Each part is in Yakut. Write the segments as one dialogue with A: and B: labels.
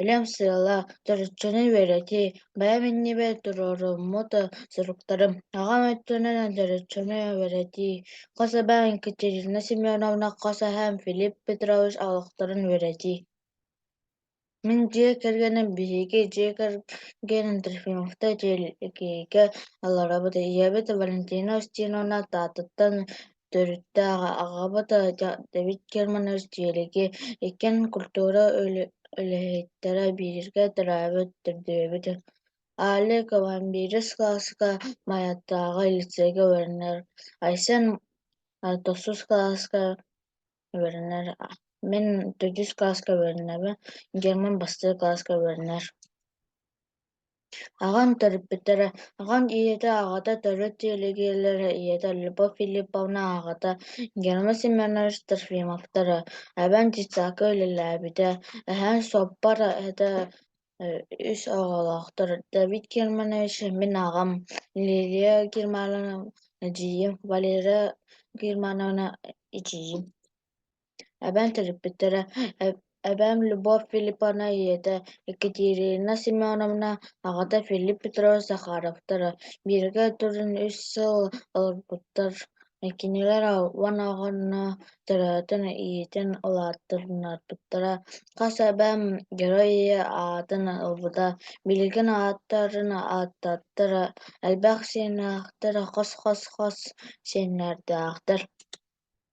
A: Илим сыала, чороччуну үөрэтии, бэйэм иннибэр туруоруммут суруктарым, аҕам өттүнэн чороччуну үөрэтии, хос эбээм Екатерина Семеновна, хос эһээм Филипп Петрович олохторун үөрэтии. Мин дьиэ кэргэним биһиги дьиэ кэргэн Трофимовка тиэликэйгэ олоробут. Ийэбит Валентина Устиновна Таатыттан Төрүттээх аҕабыт Давид Германов дьиэлиги иккэн культура үлэһиттэрэ бииргэ төрөөбүт төрдүөбүт Али Кавамбирис кылааска Майаттааҕы лицейгэ үөрэнэр, Айсен тохсус кылааска үөрэнэр, мин төрдүс кылааска үөрэнэбин, Герман бастакы кылааска үөрэнэр Аҕам төрөппүттэрэ, аҕам ийэтэ, аҕата төрүт дэлэгээссийэлэрэ, ийэтэ Любовь Филипповна, аҕата Герман Семенович Трофимовтара, эбэм дьыссаакка үлэлээбитэ, эһэм суоппар этэ, үс оҕолоохтор. Давид Германович, мин аҕам Лилия Германовна, эдьиийим Валера Германовна, эдьиийим эбэм төрөппүттэрэ эбэм Любовь Филипповна ийэтэ Екатерина Семеновна аҕата Филипп Петрович Захаровтара бииргэ туран үс сыл олорбуттар кинилэр уон оҕону төрөөтүн иитин улааттарбыттара хас эбэм герой ийэ аатын ылбыта билигин ааттарын ааттааттара элбэх сиэннээхтэр хос хос хос сиэннэрдээхтэр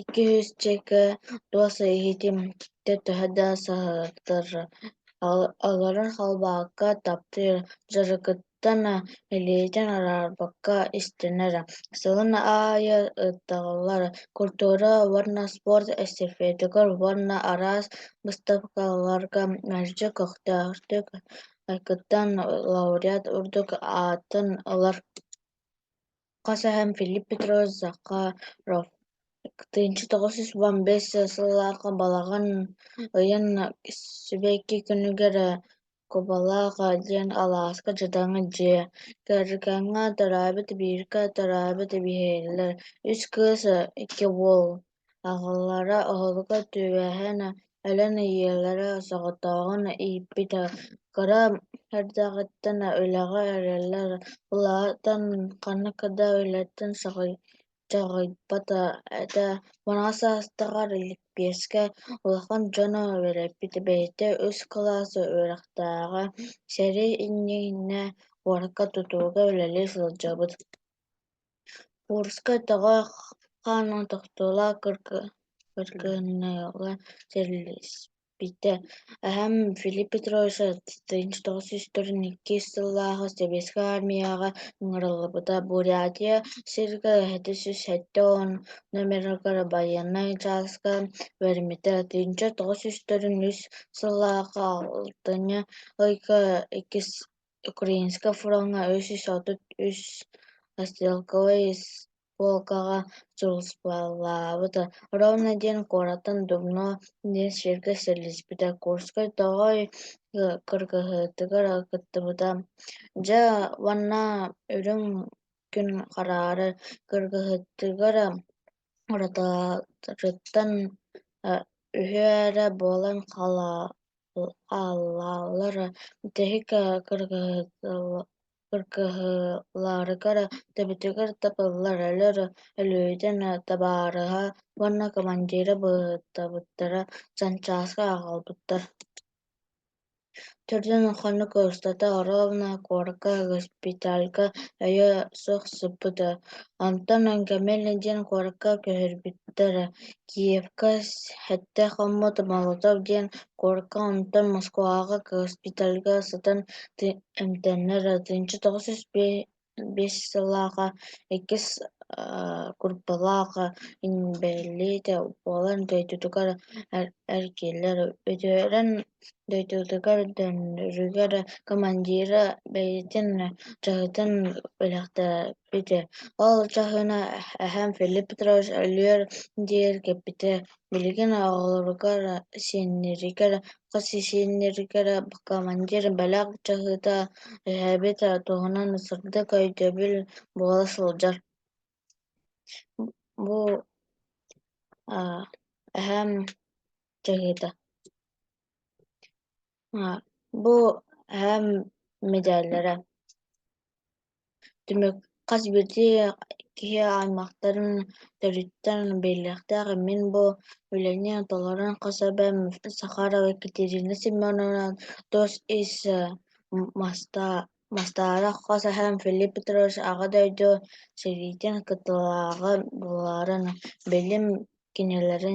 A: Икки сүүсчэкэ туос иһитим киттэ төһө да саһыктар олорон халбаакка таптыыр, дьарыкыттана илиитин араарбакка истэнэрэ. Сылын аайы ыыталлар культура уонна спорт эстафетыгар уонна араас быыстапкаларга мэлдьи көхтөөхтүк айгыттан лауреат ордук аатын ылар хас аһын Филипп Петрович Захаров тыынча тоҕус сүүс уон биэс сыллаах балаҕан ыйын сибэкки күнүгэр Кубалаах диэн алааска дьадаҥы дьиэ кэргэҥҥэ төрөөбүт бииргэ төрөөбүт биһиэлэ үс кыыс икки уол Аҕалара оһолго түбэһэн өлөн ийэлэрэ соҕотоҕун ииппитэ, кыра эрдэҕиттэн үлэҕэ эрэллэр, улаатан ханнык да үлэттэн соҕойдоҕойбото этэ, муҥха саастааҕар лэппиэскэ улахан дьону үөрэппит, бэйэтэ үс кылаас үөрэхтээҕэ, сэрии иннинэ уокка тутууга үлэлии сылдьабыт Курска өтөҕөх хаанын тохтоло кыргыһыннарыыга сэрлиспитэ. Эһэм Филипп Петрович сатыынча тоҕус сүүс төрүт иккис сыллааҕы Сэбиэскэй аармыйаҕа ыҥырыллыбыта. Бурятия сиргэ эһэтэ сүүс сэттэ уон номерыгар байыаннай чааска үөрэммитэ. Тыйынча тоҕус сүүс төрүт үс сыллааҕы алтынньы ыйга иккис Украинскай фроҥҥа үс сүүс отут үс стрелковай испуолкаҕа суруллубута ровно диэн куораттан Дубно диэн сиргэ сэрэлиспитэ Курскай тоҕой кыргыһыытыгар кыттыбыта Дьэ уонна үрүҥ күн хараары кыргыһыытыгар Уратытын үһүө эрэ буолан хаалаллара тэһика кыргыһыыларыгар төбөтүгэр тапыллар өлөр өлүөтүн табаарыһа уонна командира быһыытабыттара Санчааска аҕалбыттар Төрдүн ухханна көрүстэтэ оруобуна куоракка, госпитальга өйө суох сыппыта, онтон Өҥкэмэли диэн куоракка көһөрбүттэрэ, Киевка сэттэ хоммут Молотов диэн куоракка, онтон Москваҕа госпитальга сытан эмтэннэ, тыынча тоҕус сүүс биэс Биэс сыллааҕа иккис курбалааҕа инбэлиитэ буолан дойдутугар эр кииллэр үдүөрэн дойдутугар дьонугар командира бэйэтин дьаһытын бэлэхтээбитэ ол дьаһана эһэм Филипп Петрович өлүөр диэри кэппитэ Билигин оҕолоругар, сиэннэригэр, хос сиэннэригэр командир бэлэх чаһыыта эһээбит туһунан сырдык өйдөбүл буола сылдьар. Бу эһээм чаһыыта. А, Бу эһэм мэдээллэрэ. Түмүк хас биирдии киһи аймахтарын төрүттэн биллиэхтээх мин бу үлэни толорон хас эбэм Сахарова Екатерина Семеновна тус ис э, маста- мастаара хас эһэм Филипп Петрович Аҕа дойду сэриитин кытылааҕа буоларын, билим кинилэрин